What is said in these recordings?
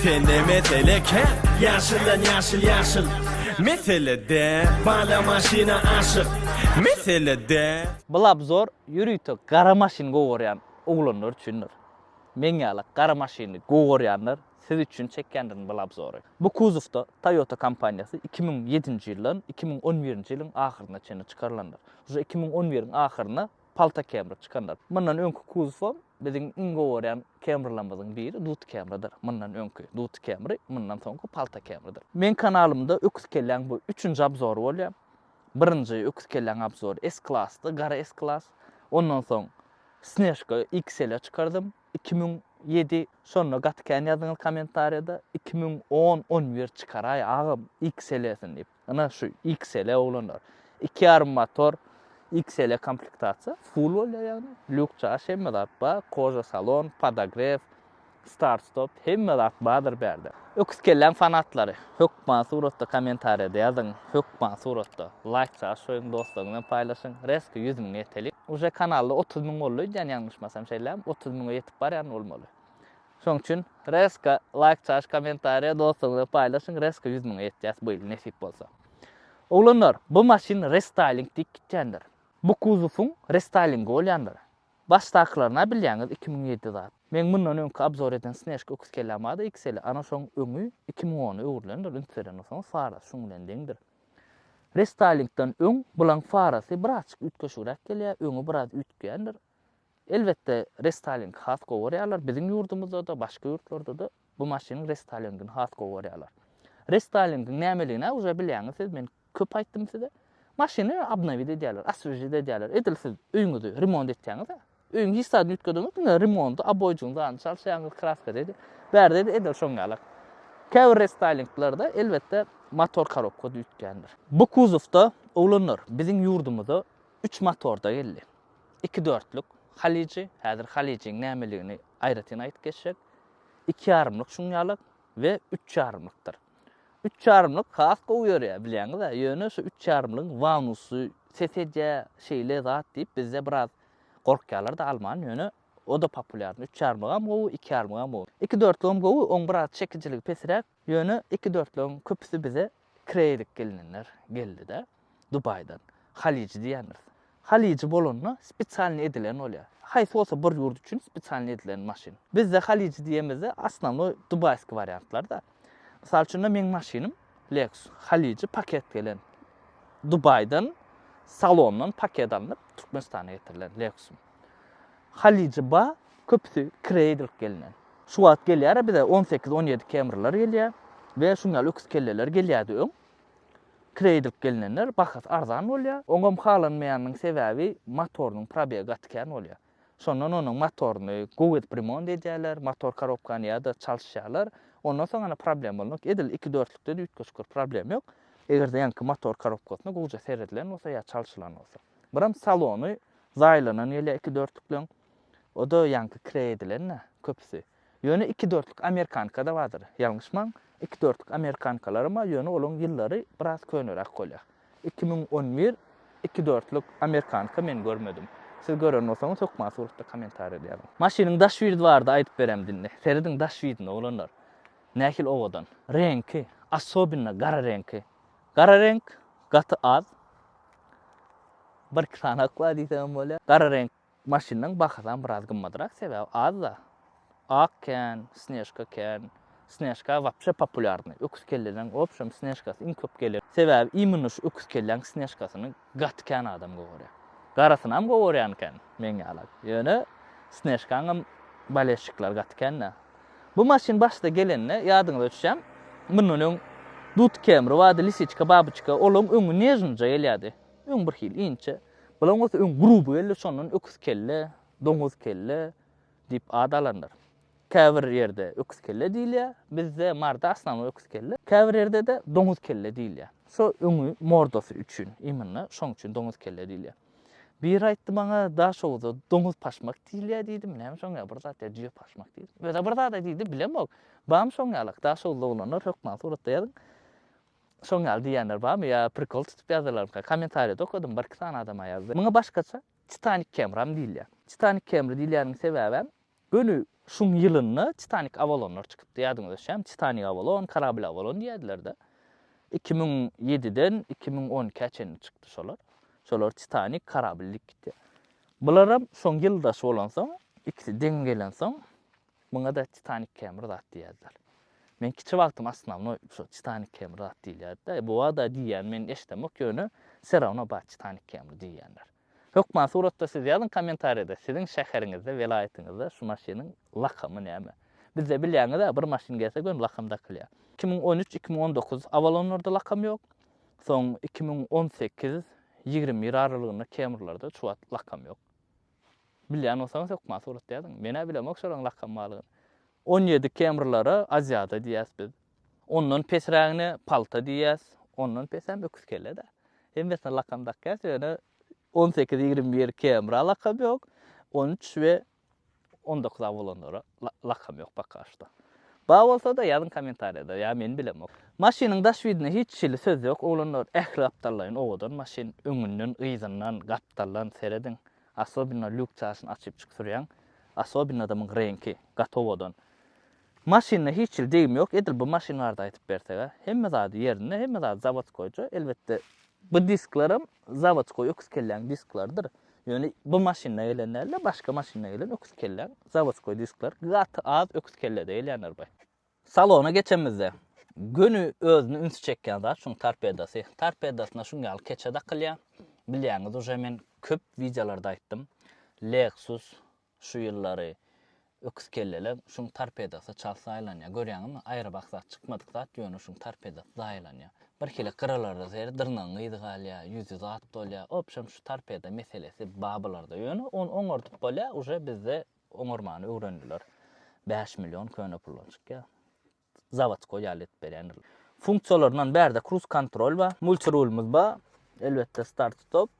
Sende mesele kän Ýaşyldan ýaşyl ýaşyl Meselede Bala maşyna aşyk Meselede. Bul obzor ýörite gara maşyn gowy görýän oglanlar üçindir. Meň ýaly gara maşyny gowy görýänler siz üçin çekýändirin bul obzory. Bu kuzowda Toyota kompaniýasy iki müň ýedinji ýyldan iki müň on birinji ýylyň ahyryna çenli çykarylandyr. Uje iki müň on biriň ahyryna Palta Camry çykandyr. Mundan öňki kuzowam biziň iň gowy görýän Camrylarymyzyň biri Dut Camrydyr. Mundan öňki Dut Camry, mundan soňky Palta Camrydyr. Meň kanalymda öküz kelläň bu üçünji abzory bolýar. Birinji öküz kelläň abzory S-Class-dy, gara S-Class. Ondan soň Snežka XL-e çykardym, iki müň ýedi. Şonda gaty kän ýazdyňyz kommentariýada, iki müň on, on bir çykaraý agam XL-esini diýip. Ina şu XL oglanlar. Iki ýarym motor XL komplektasiýa. Full bolýar ýagny. Lýuk çaş hemme zat bar. Koja salon, podogref, start stop hemme zat bardyr bärde. Öküz kelläň fanatlary hökman suratda kommentariýada ýazyň. Hökman suratda laýk çaş goýuň dostlaryňyz bilen paýlaşyň. Reski ýüz müň ýetelik. Uje kanalda otuz müň boldy öýdýän ýalňyşmasam şeýlämi? Otuz müňe ýetip barýan bolmaly. Şoň üçin reska laýk çaş komentariýa dostuňyza paýlaşyň reska ýüz müňe ýetýäs bu ýyl nesip bolsa. Oglanlar bu maşyn restaýling diýip gitýändir. Bu kuzowyň restaýlingi bolýandyr. Başdakylaryna bilýäňiz iki müň ýedi zat. Meň mundan öňki abzor eden Snejka öküz kelläm bardy XL-i ana şoň öňi iki müň ona öwrülendir üns beren bolsaňyz farasy şuň bilen deňdir. Restaýlingden öň bulaň farasy birazçyk üýtgeşigräk gelýär öňi biraz üýtgeýändir. Elbetde, restolingi has gowy görýärler. Biziň ýurdumyzda-da, başga ýurtlarda-da bu maşynyň restalingini has gowy görýärler. Restolingiň nämeligini-ä uje bilýäňiz siz, men köp aýtdym size. Maşyny obnowit edýärler, oswežit edýärler. Edil siz öýüňizi remont etýäňiz-ä. Öýüňi hiç zady üýtgedeniňok, diňe remonty, obojygyň zadyny çalşýaňyz, kraska degi, bäri-de edil şoň ýalak. Käbir restalinglarda, elbetde, motor korobka-da üýtgändir. Bu kuzowda, oglanlar, biziň ýurdumyza üç motorda geldi. Iki dörtlük, Halyjy, häzir Halyjyň nämeligini aýratyn aýdyp geçjek. Iki ýarymlyk şuň ýaly we üç ýarymlykdyr. Üç ýarymlyk has gowy ýörýär, bilýäňiz-ä, ýöne şu üç ýarymlygyň wanusy ses edýär, şeýle zat diýip bizde biraz gorkýarlar-da alman, ýöne o-da populýarny. Üç ýarymlygam gowy, iki ýarymlygam gowy. Iki dörtlügem gowy, oň biraz çekijiligi pesräk. Ýöne iki-dörtleň köpüsi bize kireýlik gelinenler geldi-de, Dubaýdan. Halyjy diýýändiris. Halyjy bolanda spesialnyý edilen bolýar. Haýsy bolsa bir ýurt üçin spesialnyý edilen maşyn. Bizde halyjy diýemizde osnownoý dubaýskiý wariantlar-da. Mysal üçin-de meň maşynym Lexus. Halyjy paket gelen. Dubaýdan salondan paket alnyp Türkmenistana getirilen Lexus-ym. Halyja ba köpüsi kire edilip gelinen. Şu wagt gelýära bize on sekiz on ýedi kemrylar gelýä we şuň ýaly öküz kelleler gelýädi öň. Kire edilip gelinenler bahasy arzan bolýa. Oňam halanmaýanynyň sebäbi motorynyň probegi gaty kän bolýa. Şondan onuň motoryny gowy edip remont edýäler, motor korobkany ýa-da çalyşýalar. Ondan soň ana problem bolmak edil iki dörtlükde üýtgeşik bir problem ýok. Eger-de ýaňky motor korobkasyna gowja seredilen bolsa ýa çalşylan bolsa. Buram salony zaýlanan gelýär iki dörtlükleň. O-da ýaňky kireý edilen-dä, köpüsi. Ýöne iki dörtlük amerikanka-da bardyr. Ýalňyşmaň, iki dörtlük amerikankalaram bar, ýöne olaň ýyllary biraz köneräk bolýar. Iki müň on bir iki dörtlük amerikanka men görmedim. Siz gören bolsaňyz hökman suratda kommentariýada ýazyň. Maşynyň daş widi barada aýdyp beremdi indi. Serediň daş widine oglanlar. Nähili owadan. Reňki, asobinna gara reňki. Gara reňk gaty az. Birki sany ak bar diýseňem bolýar. Gara reňk maşynlaryň bahasam biraz gymmadrak, sebäbi az-da. Ak kän, snežka kän. Snežka wapşe populýarnyý. Öküz kelleden obşem snežkasy iň köp geler. Sebäbi imенно şu öküz kelläň snežkasyny Gaty kän adam gowarýar. Garysynam gowarýan eken, meň ýala. Ýöne Snežkaňam bolesşikler gaty kän-dä. Bu maşyn başda gelende, ýadyňyza düşýän, mundan öň Dudkemri bardy, Lisiçka, Babyçka, olaň öňi nežnyja gelýärdi. Öň birhili inçe. Bulaň bolsa öň gruby geldi, şondan öküz kelle, doňuz kelle, Diýip ad alandyr. Käbir ýerde öküzkelle diýilýär. Bizde Marda asnawy öküzkelle. Käbir ýerde-de doňuzkelle diýilýär. Şo öňi, mordasy üçin iýminde, şoň üçin doňuzkelle diýilýär. Biri aýtdy maňa, Daşoguza doňuz paşmak diýilýär diýdim. Näme şoň ýaly bir zat ýa jüýe paşmak diýdim. Öz-ä bir zad-a diýdi, bilemok. Barmy şoň ýalak? Daşoguzly oglanlar hökman suratda ýazyň. Şoň ýaly diýýänler barmy ýa prikol tutup ýazdylarmyka? Kommentariýada okadym, birki sany adam-a ýazdy. Muňa başgaça Titanik Kemram diýilýär. Titanik Kemri diýilýäniniň sebäbem, göni şuň ýylynda Titanik Awalonlar çykypdy, ýadyňyzda düşýärmi? Titanik Awalon, Karabil Awalon diýýärdiler-de. Iki müň ýediden iki müň on ikä çenli çykdy şolar. Şolar Titanik, Karabil diýip gitýär. Bularam şoň ýyldaş bolansoň, ikisi deň gelensoň, Muňa-da Titanik kemir zat diýýärler. Men kiçi wagtym osnownoý şo Titanik kemir zat diýilýärdi-de, e, bu-a-da diýýän men eşidemok, ýöne serawno bar Titanik kemir diýýänler. Hökman suratda siz ýazyň kommentariýada siziň şäheriňizde, welaýatyňyzda şu maşynyň lakamy näme? Bizde bilýäňiz-ä bir maşyn gelse göni lakam dakylýar. Iki müň on üç, iki müň on dokuz Avalonlarda lakam ýok. Soň iki müň on sekiz, ýigrimi bir aralygynda Kemrilerde şu wagt lakam ýok. Bilýän bolsaňyz hökman surat ýazyň. Menä bilemok şolaryň lakam barlygyny. On ýedi kemrlara aziada diýýäs biz. Ondan pesrägine palta diýýäs. Ondan pesem öküz kelle-dä. Hemmesine lakam dakýas, ýöne on sekiz, ýigrimi bir kemra lakam ýok. On üç we on dokuz-a bolanlara. Lakam ýok pakaşto. Bar bolsada ýazyň komentariýada ýa men bilemok. Maşynyň daş widine hiç hili söz ýok oglanlar ähli gapdallaýyn owadan maşyn öňünden yzyndan gapdaldan serediň asobinno lýuk çaşyny açyp çyk sürýäň asobinno adamyň reňki gaty owadan maşynda hiç hili degim ýok edil bu maşyn barada aýtyp bersega hemme zady ýerinde hemme zady zawodskoýja elbetde bu diskleram zawodskoý öküz kelläň disklarydyr Ýöne bu maşynda gelen däl-de, başga maşynda gelen öküz kelläň zawodskoý diskler gaty az öküz kellede gelýänler by. Salona geçenimizde, göni özüni ünsi çekýän zat şuň torpedosy. Torpedosyna şuň ýaly keçe dakylýar. Bilýäňiz uje men köp wideolarda aýtdym. Lexus Şu ýyllary öküzkellelem şuň torpedosy çalt zaýalanýar. Görýäňizmi, aýrybak zat, çykmadyk zat, ýöne şuň torpedosy zaýalanýar. Birhili gyralarda seýr, dyrnagyň gyzy galýar, ýüzi zat dolýar. Obşem şu torpeda meselesi bar bularda. Ýöne ony oňardyp bolýar, uje bizde oňarmany öwrendiler. Bäş million köne puldan çykýar. zawodskoý ýaly edip berýändirler. Funksiýalaryndan bärde kruz kontrol bar, multirulymyz bar, elbetde start stop,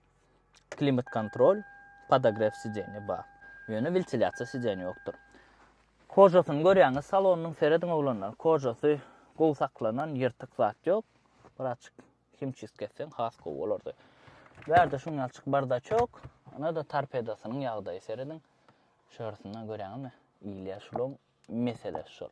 klimat kontrol, podogref sideniýe bar. Ýöne wentilýasiýa sideniýe ýokdur. Kožasyny görýäňiz salonynyň serediň oglanlar, kožasy gowy saklanan, ýyrtyk zat ýok. Birazjyk himçistk etseň has gowy bolardy. Bärde şuňňalçyk bardaçok, ynha-da torpedosynyň ýagdaýy serediň. Şörüsinden görýäňizmi? Ilýär şulam Mesele şol.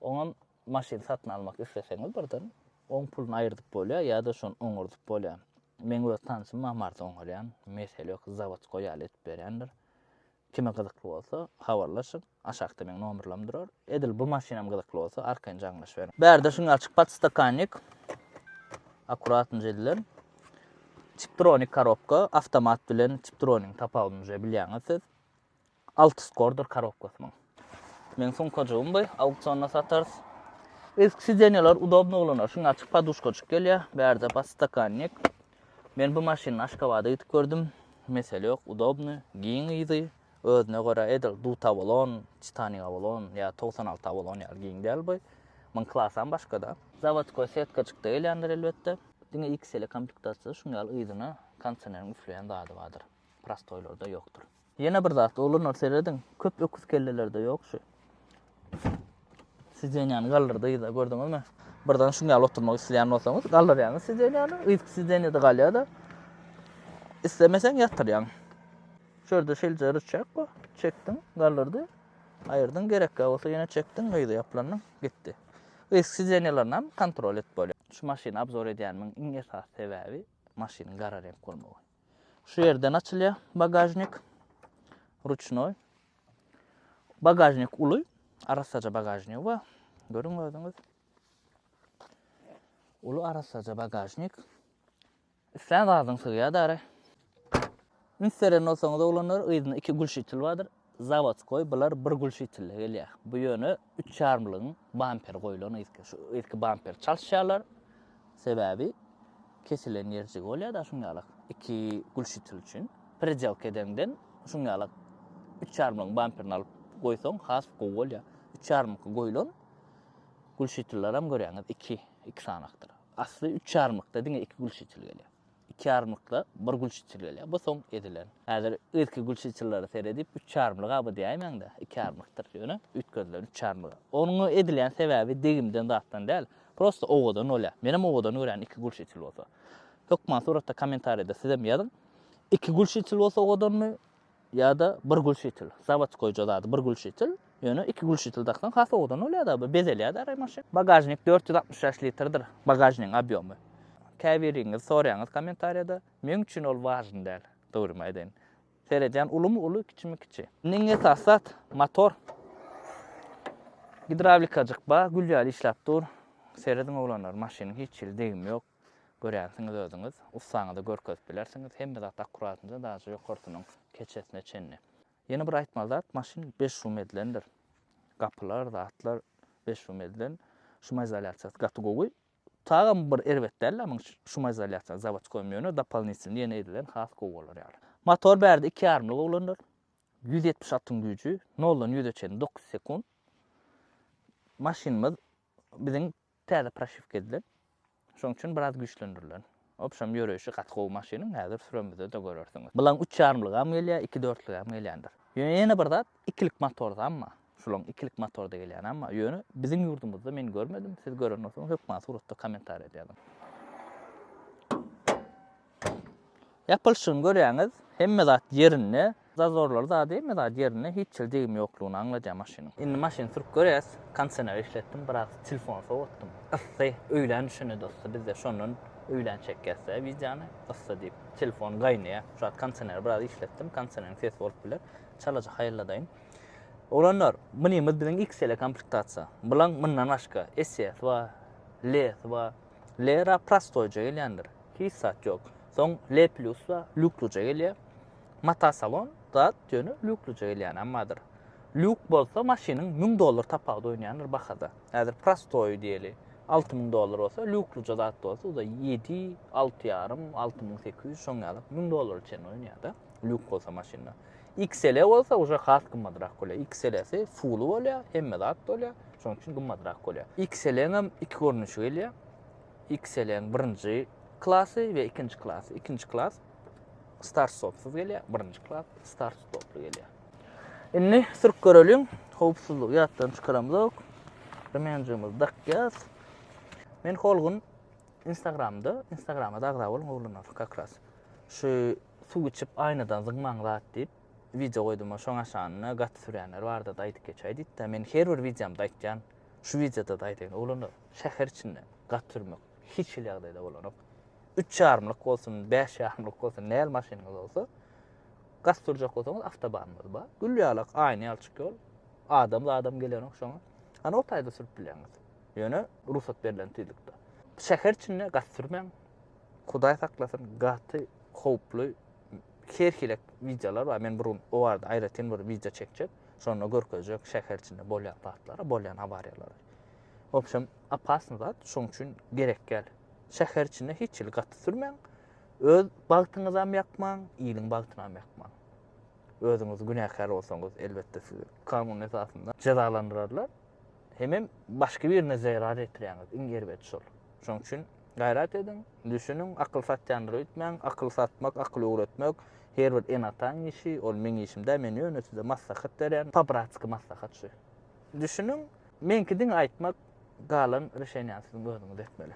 Oňam maşyn satyn almak isleseňiz birden oň puluny aýyrdyp bolýar ýa-da şony oňardyp bolýar. Meň öz tanşym bar Marsda oňarýan. Mesele ýok, zawodçka ýaly edip berýändir. Kime gyzykly bolsa, habarlaşyň. Aşakda meň nomerlerim durar. Edil bu maşynam gyzykly bolsa, arkaýyn jaňlaşyberiň. Bärde şuny açyk podstakannik, akuratnje edilen. Tiptronik korobka, awtomat bilen tiptronigiň tapawudyny uje bilýäňiz siz. Alty skordyr korobkasy muň. Meň sumkajygym bu, auksionda satarys. Eski sidenýalar udobny bolana, şuň açyk poduşkajyk gelýär, bärde podstakannik. Men bu maşyny Aşgabada gidip gördüm, mesele ýok, udobny, giň yzy, özüne görä edil Dut Avalon, Titanik Avalon ýa togsan alty Avalon ýaly giň däl bu. Muň klasam başga-da. Zawodkoý setkajykda gelýändir elbetde. Diňe XL-e komplektasiýada şuň ýaly yzyna kondisioneriň üfleýän zady bardyr. Prostoýlarda ýokdur. Ýene bir zat, oglanlar serediň, köp öküz kellelerde ýok şu. Sideniýany galdyrdy yza, gördüňizmi? Birden şuň ýaly oturmak isleýän bolsaňyz, galdyrýaňyz sideniýany, yzky sideniýada galýar-da. Islemeseň ýatyrýaň. Şu ýerde şeýleje rıçak bar, çekdiň, galdyrdy, aýyrdyň, gerekkä bolsa ýene çekdiň, yza ýaplandyň, gitdi. Yzky sideniýalaryny hem kontrol edip bolýar. Şu maşyny obzor edýänimiň iň esasy sebäbi maşynyň gara reňk bolmagy. Şu ýerden açylýar bagažnik. Ruçnoý. Bagažnik uly. Arassaja bagažnigi bar. Görüň özüňiz. Uly arassaja bagažnik. Islän zadyň sygýar dara. Üns beren bolsaňyz oglanlar, yzynda iki gülşitel bardyr. Zawodskoý bular bir gülşitille gelýär. Bu ýöne üç ýarymlygyň bamperi goýlan yzky. Şu yzky bamperi çalyşýarlar. Sebäbi kesilen ýerjigi bolýar-da şuň ýalak iki gülşitil üçin. Predelka edeňden şuň ýalak üç ýarymlygyň bamperini alyp goýsaň has gowy bolýar. Üç ýarymlyk goýlan gülşitilleram görýäňiz iki, iki sanakdyr. Asly üç ýarymlykda diňe iki gülşitil gelýär. iki ýarymlykda bir gülçytyl gelýär. Bu soň edilen. Häzir irki gülçytyllara seredip, üç ýarymlyga bu diýäýmäň-de, iki ýarymlykdyr. Ýöne üýtgedilen üç ýarymlyga. Onuň edilýän sebäbi degimden zatdan däl, prosta owadan bolýar. Menem owadan görýän iki gülçytyl bolsa. Hökman suratda kommentariýada sizem ýazyň. Iki gülçytyl bolsa owadanmy? ýa-da bir gülşitil. Zawodskoýja zady bir gülşitil. Ýöne iki gülşitil daksaň has owadan bolýar-da, bir bezelýär-de aýry maşyn. Bagažnik dört ýüz altmyş bäş litrdir, bagažnigiň obýomy. Käbiriňiz soraýaňyz kommentariýada, meň üçin ol wažny däl, dogrymy aýdaýyn. Seredýän ulumy uly, kiçimi kiçi. Indi iň esasy zat, motor. Gidrawlikajyk bar, gül ýaly işläp dur. Serediň oglanlar, maşynyň hiç hili degimi ýok. Görýänsiňiz özüňiz, ussaňyza görkezip bilersiňiz, hemme zat akkuratynja daže ýokarsynyň keçesine çenli. Ýene bir aýtmaly zat, maşyn beş şum edilendir. Gapylar, zatlar beş şum edilen. Şumizolýasiýasy gaty gowy. Tagam bir erbet däl-ä muň şumizolýasiýasy zawodskoýam ýöne dopolnitwny ýene edilen has gowy bolar ýaly. Motor bärde iki ýarymlyk oglanlar. Ýüz ýetmiş atyň güýji, noldan ýüze çenli dokuz sekunt. Maşynymyz biziň Täze proşiwka edilen. Şoň üçin biraz güýçlendirilen. Obşem ýöreýşi gaty gowy maşynyň, häzir süremizde-de görersiňiz. Bulaň üç ýarymlygam gelýär, iki dörtlügem gelýändir. Ýöne ýene bir zat, ikilik motordan bar. Şulaň ikilik motorda gelýänem bar. Ýöne biziň ýurdumyzda men görmedim, siz gören bolsaňyz hökman suratda kommentariýada ýazyň. Ýapylyşygyny görýäňiz, hemme zat ýerinde, zazorlary zady hemme zady ýerinde, hiç hili degim ýoklugyny aňladýar maşynyň. Indi maşyny sürüp görýäs, kondisioner işletdim, biraz telefony sowatdym. Yssy, öýlän düşende-de yssy, bizde şondan öýlän çekýäs-dä wideony, yssy diýip, telefon gaýnaýar. Şu wagt kondisioneri biraz işletdim, kondisioneriň sesi bolup biler, çalaja haýalladaýyn. Oglanlar, mini-miz biziň XL-e komplektasiýa. Bulaň mundan başga, SS bar, LS bar. L-ra prostoýja gelýändir. Hiç zat ýok. Soň L-plusla lýukluja gelýär. Mata salon zat ýöne lýukluja gelýänäm bardyr. Lýuk bolsa maşynyň müň dollar tapawudy oýnaýandyr bahada. Häzir prostoýy diýeli alty müň dollar bolsa, lýukluja zat bolsa uda ýedi, alty ýarym, alty müň sekiz ýüz şoň ýaly müň dollara çenli oýnaýar-da, lýuk bolsa maşynda. XL bolsa uje has gymmadrak bolýar. XL-si full bolýar, hemme zat bolýar. Şonuň üçin gymmadrak bolýar. XL-iň hem iki görnüşi gelýär. XL-iň birinji klasy we ikinji klasy. Ikinji klas start stopsyz gelýär, birinji klas start stoply gelýär. Indi sürüp göreliň. Howpsuzlygy ýatdan çykaramzok. Remenjimizi dakýas. Men Holgun Instagramda, Instagrama da agza boluň oglanlar, kakras. Şu Suw içip aýnadan zyňmaň zat diýip wideo goýduma şoň aşanyna gaty sürýänler bardada aýdyp geçäý diýipdä men her bir wideomda aýtýan şu wideodada aýdaýyn oglanlar şäher içinde gaty sürmek hiç hili ýagdaýda bolanok üç ýarymlyk bolsun bäş ýarymlyk bolsun nähili maşynyňyz bolsa gaty sürjek bolsaňyz awtobanymyz bar gül ýalak aýna ýalçyk ýol adam zadam gelenok şoňa ana o taýda sürüp bilýäňiz ýöne rugsat berlen tizlikde şäher içinde gaty sürmäň Hudaý saklasyn gaty howply her hilek wideolar bar men bir gün o barada aýratyn bir wideo çekjek şonda görkezjek şäher içinde bolýan zatlary bolýan awariýalary obşem opasny zat şoň üçin gerek gel şäher içinde hiç hili gaty sürmäň öz bagtyňyzam ýakmaň iliň bagtynam ýakmaň özüňiz günäkär bolsaňyz elbetde sizi kanun esasynda jezalandyrarlar. Hemem başga birine zerar ýetirýäňiz, iň erbedi şol. Şonuň üçin gaýrat ediň, düşüniň, akyl satýandyr öýtmäň, akyl satmak, akyl öwretmek her bir ene-ataň işi, ol meň işim däl, men ýöne size maslahat berýän, po-bratski maslahat şu. Düşüniň, meňki diňe aýtmak, galan rişeniýany siziň özüňiz etmeli.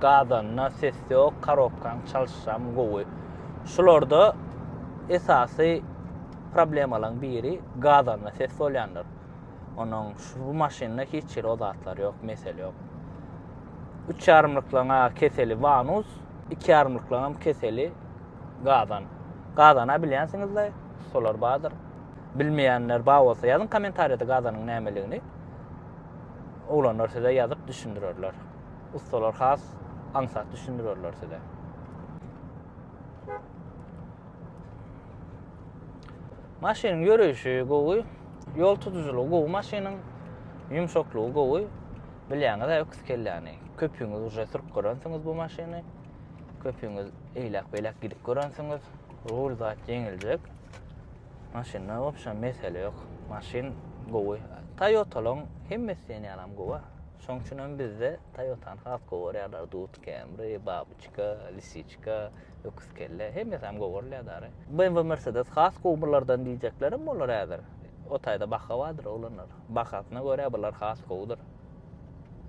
Gazanda ses ýok karobkaň çalyşam gowy. Şularda esasy problemalaň biri gazanda ses bolýandyr. Onuň şu bu maşynda hiç hili o zatlar ýok mesele ýok. Üç ýarymlyklaň a keseli vanus, iki ýarymlyklaňam keseli gazan. Gazana bilýänsiňizle solar bardyr. Bilmeýänler bar bolsa ýazyň komentariýada gazanyň nämeligini. Oglanlar size ýazyp düşündirerler. ussalar has aňsat düşündirerler size. Maşynyň ýöreýşi gowy, ýol tutujylygy gowy maşynyň, ýumşaklygy gowy. Bilýäňiz-ä öküz kelläni. Köpüňiz uje sürüp görensiňiz bu maşyny. Köpüňiz eýläk-beýläk gidip görensiňiz. Rul zat ýeňiljek. Maşynda wobşem mesele ýok. Maşyn gowy. Toyota-laryň hemmesi diýen ýalam gowy. Şoň üçin hem bizde Toyotany has gowarýarlar, Dut Camry, Babyçka, Lisiçka, Öküzkelle, hemmesi hem gowarylýar dary. BMW Mercedes has gowy bulardan diýjeklerim bolar häzir. O taýda baha bardyr oglanlar. Bahasyna görä bular has gowudyr.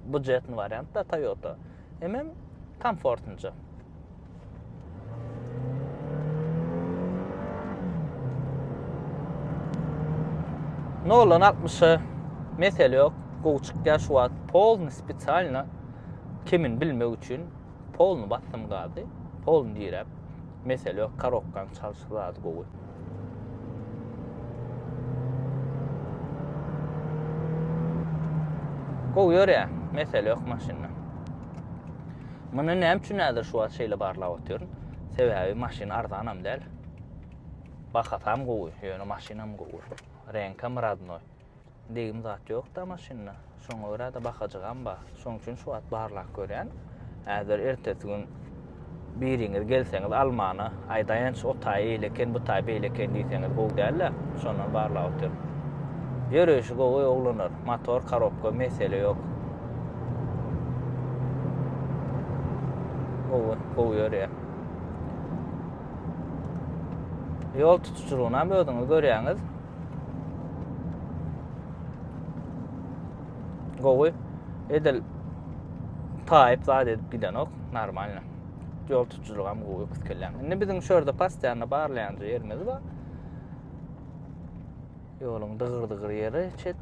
Budjetny wariant da Toyota. Hemem komfortnja. Nolan 60-a mesele yok. Gowy çykýar şu wagt. Polny spesialno kimin bilmek üçin polny bassym gady. Polny direp. Mesele yok karokkan çalşy zady gowy. Gowy ýörýär. Mesele yok maşynda. Muny näme üçin häzir şu wagt şeýle barlap otyryn? Sebäbi maşyn arzanam däl. Bahasam gowy, ýöne maşynam gowy. Reňkam radnoý. degim zat ýokda maşynda. Şoňa görä-de bakajygam bar. Şoň üçin şu wagt barlap görýän. Häzir ertesi gün biriňiz gelseňiz almana, aýdaýynç o taý eýle eken, bu taý beýle eken diýseňiz gowy däl-ä. Şondan barlap otyryn. Ýöreýşi gowy oglanlar. Motor, korobka mesele ýok. Gowy, gowy ýörýär. Ýol tutuşylygyny hem özüňiz görýäňiz. Gowy. Edil taýyp zat edip gidenok. Normalno. Ýol tutujylygam gowy öküz kellen. Indi biziň şu ýerde pastiýany barlaýanjy ýerimiz bar. Ýoluň dygyr-dygyr ýeri çet.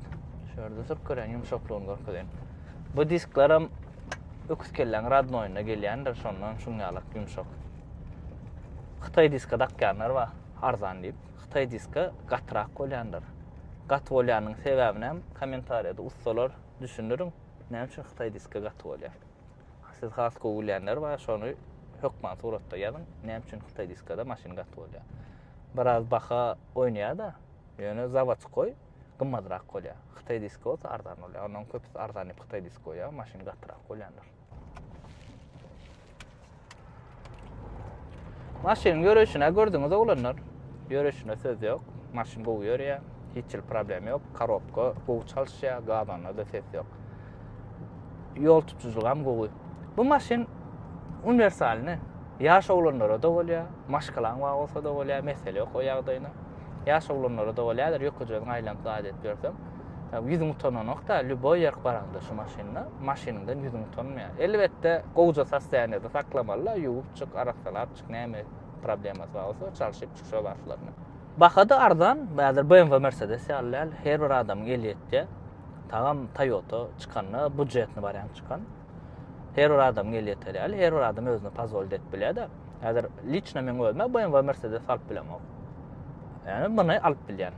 Şu ýerde sürüp gören ýumşaklygyny görkezen. Bu disklaram öküz kellen radnoýuna gelýändir, şondan şuň ýalak ýumşak. Hytaý diska dakýanlar bar, arzan diýip. Hytaý diska gatyrak bolýandyr. Gaty bolýanyň sebäbini hem kommentariýada ussalar düşündiriň, näme üçin Hytaý diska gaty bolýar. Siz has gowy bilýänler bar, şony hökman suratda ýazyň, näme üçin Hytaý diskada maşyn gaty bolýar. Biraz baha oýnaýar-da, ýöne zawodskoý gymmatrak bolýar. Hytaý diska bolsa arzan bolýar. Onuň köpüsi arzan diýip Hytaý diska goýýar, maşyn gatyrak bolýandyr. Maşynyň ýörüşüne gördüňiz oglanlar. Ýörüşüne söz ýok. Maşyn gowy ýörýär. Hiç hil problem ýok. Korobka gowy çalyşýar. Gazanda da ses ýok. Ýol tutujylygy hem gowy. Bu maşyn uniwersalny. Ýaş oglanlara da bolýar. Maşgalaň bar bolsa da bolýar. Mesele ýok o ýagdaýyna. Ýaş oglanlara da bolýar. Ýökejegini aýlanyp zat edip ýörsem. Ýa ýüzüň utananokda, lýuboý ýerk baraňda şu maşynda, maşynyňdan ýüzüň utanmaýar. Elbetde, gowja sosýaniýada saklamalyda, ýuwup çyk, arassalap çyk, näme problemasy bar bolsa, çalşyp çyk şo wagtlaryna. Baha-da arzan, häzir BMW, Mercedes ýaly däl, her bir adamyň eli ýetýär. Tagam Toyota çykanda, budjetny wariant çykan. Her bir adamyň eli ýeter ýaly, her bir adam özüne pozwolit edip bilýär-de. Häzir liçno meň özüm-ä BMW, Mercedes alyp bilemok. Ýöne muny alyp bilýän.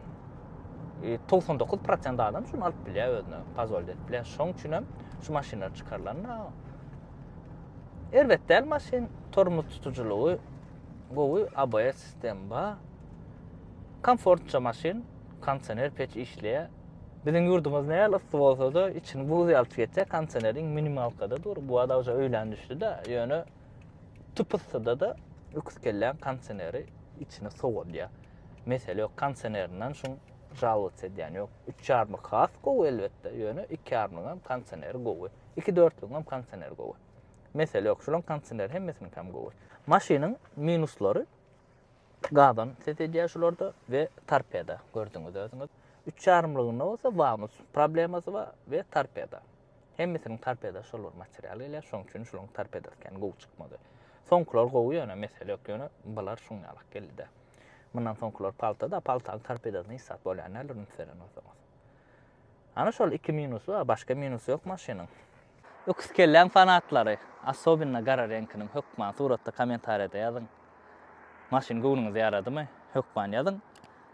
99 e, prosent adam şunu alyp bilýär özüne, pazol edip bilýär. Şoň üçin hem şu maşynlar çykarylanda erbet däl maşyn, tormoz tutujylygy gowy, ABS sistem bar. Komfortça maşyn, kondisioner peç işleýär. Biziň ýurdumyz näl ysy bolsa-da, içini buz ýaltyp geçýär, kondisioneriň minimalkada dur. Bu adam ýa öýlän düşdi-de, ýöne tupusda da öküz kelläň kondisioneri içini sowadýar. Mesele ýok konsenerinden şuň žalowats edýän ýok. Üç ýarmyk has gowy elbetde, ýöne iki ýarmygyňam konseneri gowy. Iki dörtlügiňem konseneri gowy. Mesele ýok, şulaň konseneri hemmesiniňkem gowy. Maşynyň minuslary gazon ses edýär şularda we torpeda, gördüňiz özüňiz. Üç ýarmylygynda bolsa vanus problemasy bar we torpeda. Hemmesiniň torpeda şol bir material gelýär, şoň üçin şulaň torpedasykam gowy çykmady. Soňkular gowy ýöne mesele ýok, ýöne bular şuň ýalak geldi-de. Mundan soňkular palta-da, paltanyň torpedasyna hiç zat bolýan däldir üns beren bolsaňyz. Ana şol iki minusy bar, başga minusy ýok maşynyň. Öküz kelläň fanatlary, assobinno gara reňkiniň hökman suratda kommentariýada ýazyň. Maşyn göwnüňize ýaradymy? Hökman ýazyň.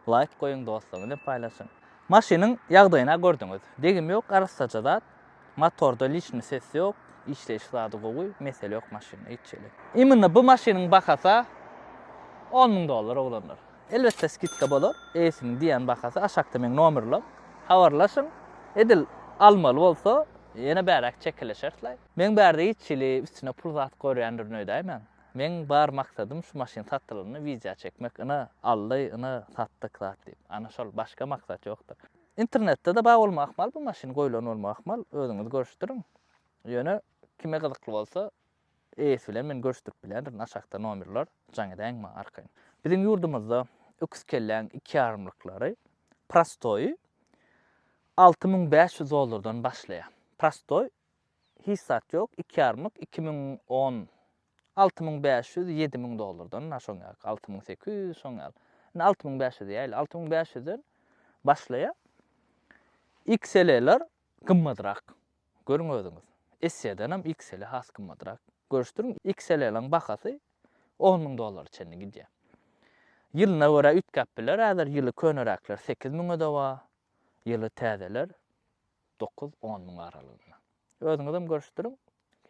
Laýk goýuň, dostlaryňyz bilen paýlaşyň. Maşynyň ýagdaýyny-a gördüňiz. Degim ýok, arassaja zat. Motorda liçni ses ýok, işleýiş zady gowy, mesele ýok maşynda hiç hili. Imенно bu maşynyň bahasa on müň dollar oglanlar. Elbetde skidka bolar, eýesiniň diýýän bahasy aşakda meň nomerlem, habarlaşyň, edil almaly bolsa ýene bäräk çekeleşersleý. Meň bärde hiç hili üstüne pul zat görýändirin öýdäýmäň, meň bar maksadym şu maşyn satylanda widýa çekmek, ine aldy, ine satdyk zat diýip, ana şol, başga maksat ýokdur. Internetde-de bar bolmagy ahmal bu maşyn, goýlan bolmagy ahmal, özüňiz görüşdiriň. Ýöne kime gyzykly bolsa, eýesi bilen men görüşdirip bilýändirin, aşakda nomerler, jaň edäýiň maňa arkaýyn. Biziň ýurdumyzda öküz kelläň iki ýarymlyklary prostoýy alty müň bäş ýüz dollardan başlaýar. Prostoý, hiç zat ýok, iki ýarymlyk iki müň on Alty müň bäş ýüz ýedi müň dollardan na şoň ýaly alty müň sekiz ýüz şoň ýaly indi alty müň bäş ýüz diýäýli alty müň bäş ýüzden başlaýa XL-ler gymmadrak görüň özüňiz SE-denem XL has gymmadrak görüşdiriň XL-laň bahasy on müň dollara çenli gidýä ýylyna görä üýtgäp biler häzir ýyly köneräkler sekiz müňe-de bar ýyly täzeler Dokuz-on müň aralygynda. Özüňizem görüşdiriň.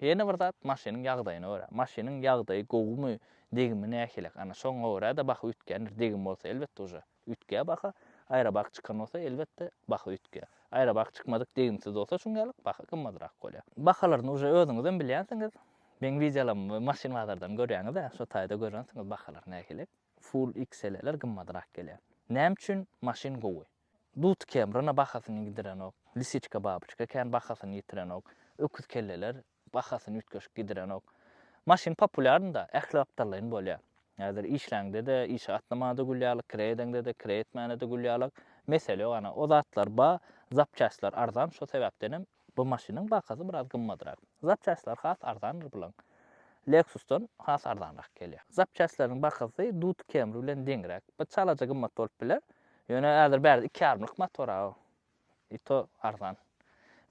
Ýene bir zat, maşynyň ýagdaýyna görä. Maşynyň ýagdaýy gowymy, degimi nähilek, ana, şoňa görä-de baha üýtgändir. Degim bolsa, elbetde, uje üýtgär baha. Aýrabak çykan bolsa, elbetde, baha üýtgär. Aýrabak çykmadyk, degimsiz bolsa, şuňňälik baha gymmadrak bolýar. Bahalaryny uje özüňizem bilýänsiňiz. Meň wideolarymy we maşyn bazardan görýäňiz-ä, şo taýda görensiňiz bahalar nähilek. Full XL-ler gymmadrak gelýär. Näme üçin maşyn gowy? Dut kemrina bahasyny gidirenok, lisiçka-babyçka kän bahasyny ýitirenok, öküz kelleler bahasyny üýtgeşik gidirenok. Maşyn populýarny-da, ähli gapdallaýyn bolýar. Häzir işläňde-de, işe gatnamaňda-da gül ýaly, kireý edeňde-de, kireý etmäňde-de gül ýalak. Mesele ýok, ana, o zatlar ba, zapçastlar arzan, şo sebäpdenem Bu maşynyň bahasy biraz gymmadrak. Zapçastlar has arzandyr bulaň. Lexus-dan has arzanrak gelýär. Zapçastlaryň bahasy Dut Camry bilen deňräk. Bir çalaja gymmat bolup biler. Ýöne häzir bärde iki ýarymlyk motor-a o. I to arzan.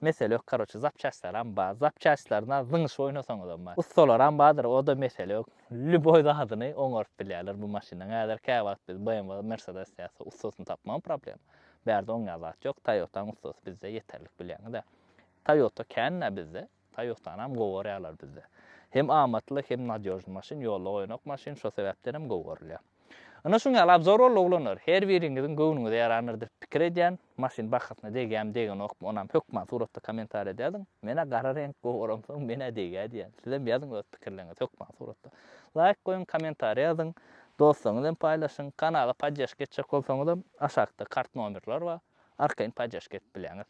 Mesele ýok karoçe zapçastlaram bar. Zapçastlaryna zyňyşyp oýnasaňyzam bar. Ussalaram bardyr o-da mesele ýok. Lýuboý zadyny oňaryp bilýärler bu maşyndan. Häzir käwagt biz BMW, Mercedes ýa-da ussasyny tapmagam problema. Bärde oňýan zat ýok, Toyotanyň ussasy bizde ýeterlik bilýäňiz-ä. Toyota kän-ä bizde, Toyotanam gowy görýärler bizde. Hem amatly, hem nadýožny maşyn, ýolda goýanok maşyn, şo sebäpdenem gowy görülýär. Ynha şuň ýaly abzor boldy oglanlar, her biriňiziň göwnüňize ýarandyr diýip pikir edýän, maşyn bahasyna degýämi degenokmy onam hökman suratda komentariýa da ýazyň, men-ä gara reňk gowy görensoň men-ä degýä diýýän, sizem ýazyň öz pikirleriňizi hökman suratda. Laýk goýuň, komentariýa ýazyň, Dostlaryňyz bilen paýlaşyň. Kanala poddeşka etjek bolsaňyzam aşakda kart nomerler bar. Arkaýyn poddeşka edip bilýäňiz.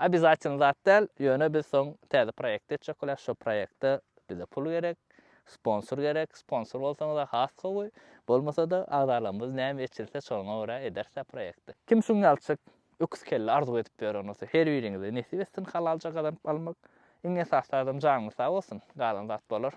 Obýazatylny zat däl, ýöne biz soň täze proýekt etjek bolýas, şo proýekte bize pul gerek, sponsor gerek, sponsor bolsaňyzar has gowy, bolmasa-da agzalarymyz näme eçilse şoňa görä ederis-ä proýekti. Kim şuň ýalçyk öküz kelle arzuw edip ýören bolsa, her biriňize nesip etsin halalja gazanyp almak. Iň esasy zadam janyňyz sag bolsun, galan zat bolar.